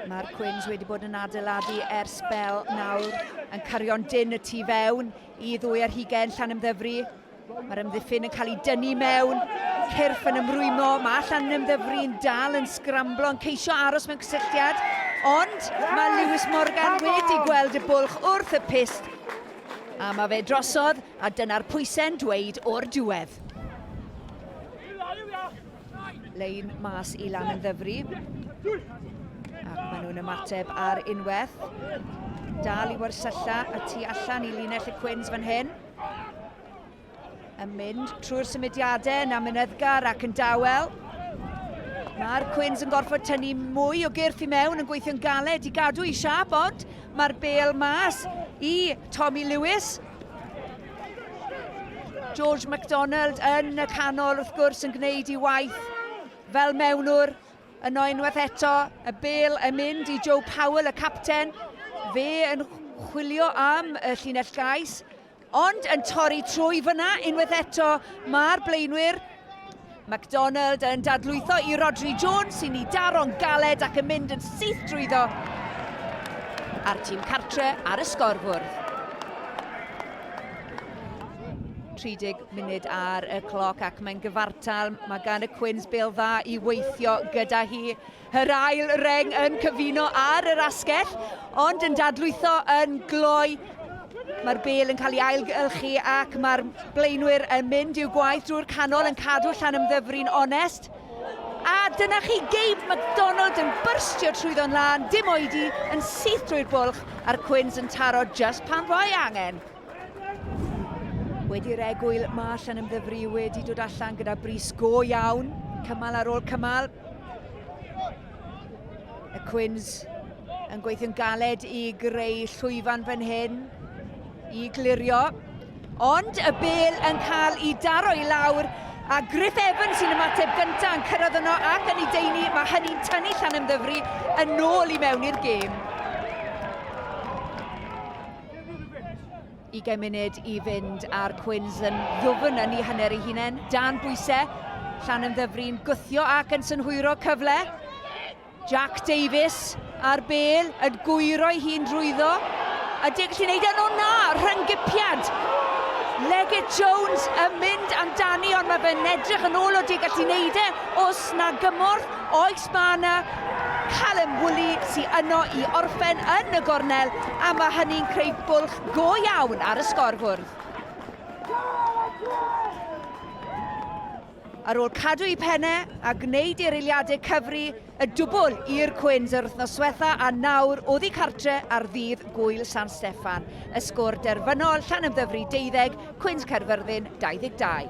Mae'r Quins wedi bod yn adeiladu ers bel nawr, yn cario'n dyn y tu fewn i ddwy ar hugen llan ymddyfru. Mae'r ymddiffyn yn cael ei dynnu mewn, cyrff yn ymrwymo, mae allan ymddyfru yn dal yn sgramblo, yn ceisio aros mewn cysylltiad, ond mae Lewis Morgan wedi gweld y bwlch wrth y pist, a mae fe drosodd, a dyna'r pwysau'n dweud o'r diwedd. Lein mas i lan yn ddyfru. Ac maen nhw'n ymateb ar unwaith. Dal i warsylla y tu allan i linell y Cwins fan hyn. Yn mynd trwy'r symudiadau yna Mynyddgar ac yn dawel. Mae'r Cwins yn gorfod tynnu mwy o gyrff i mewn yn gweithio'n galed i gadw i siap, ond mae'r bel mas i Tommy Lewis. George MacDonald yn y canol wrth gwrs yn gwneud i waith fel mewnwr. Yno unwaith eto, y bel yn mynd i Joe Powell, y capten. Fe yn chwilio am y llinell gais, ond yn torri trwy fyna unwaith eto. Mae'r blaenwyr McDonald yn dadlwytho i Rhodri Jones sy'n ei daro'n galed ac yn mynd yn syth drwyddo. A'r tîm cartre ar y sgorfwrdd. 30 munud ar y cloc ac mae'n gyfartal. Mae gan y Cwins bel dda i weithio gyda hi. Yr ail reng yn cyfuno ar yr asgell, ond yn dadlwytho yn gloi. Mae'r bel yn cael ei ailgylchu ac mae'r blaenwyr yn mynd i'w gwaith drwy'r canol yn cadw llan ymddyfru'n onest. A dyna chi Gabe McDonald yn byrstio trwyddo'n lân, dim oedi, yn syth drwy'r bwlch a'r Quins yn taro just pan fo'i angen. Wedi'r egwyl, mae allan ymddyfru wedi dod allan gyda bris go iawn. Cymal ar ôl cymal. Y Cwins yn gweithio'n galed i greu llwyfan fan hyn i glirio. Ond y bel yn cael ei daro i lawr a Griff Evans sy'n ymateb gyntaf yn cyrraedd yno ac yn ei deini, mae hynny'n tynnu llan ymddyfru yn ôl i mewn i'r gêm. 20 munud i fynd a'r Cwins yn ddwfn yn ei hanner ei hunain. Dan bwysau, llan yn ddyfrin, gwthio ac yn synhwyro cyfle. Jack Davies a'r bel yn gwyro ei hun drwyddo. A deg gallu wneud yn o na, rhyngipiad. Legit Jones yn mynd amdani, ond mae fe'n edrych yn ôl o deg gallu wneud e. Os na gymorth, oes Mae yna Callum Woolley sy yno i orffen yn y gornel a mae hynny'n creu bwlch go iawn ar y sgorfwrdd. Ar ôl cadw i penne a gwneud i'r eiliadau cyfri y dwbl i'r Cwins yr wythnos swetha a nawr oddi cartre ar ddydd Gwyl San Steffan. Y sgôr derfynol, Llanymddyfri 12, Cwins Caerfyrddin 22.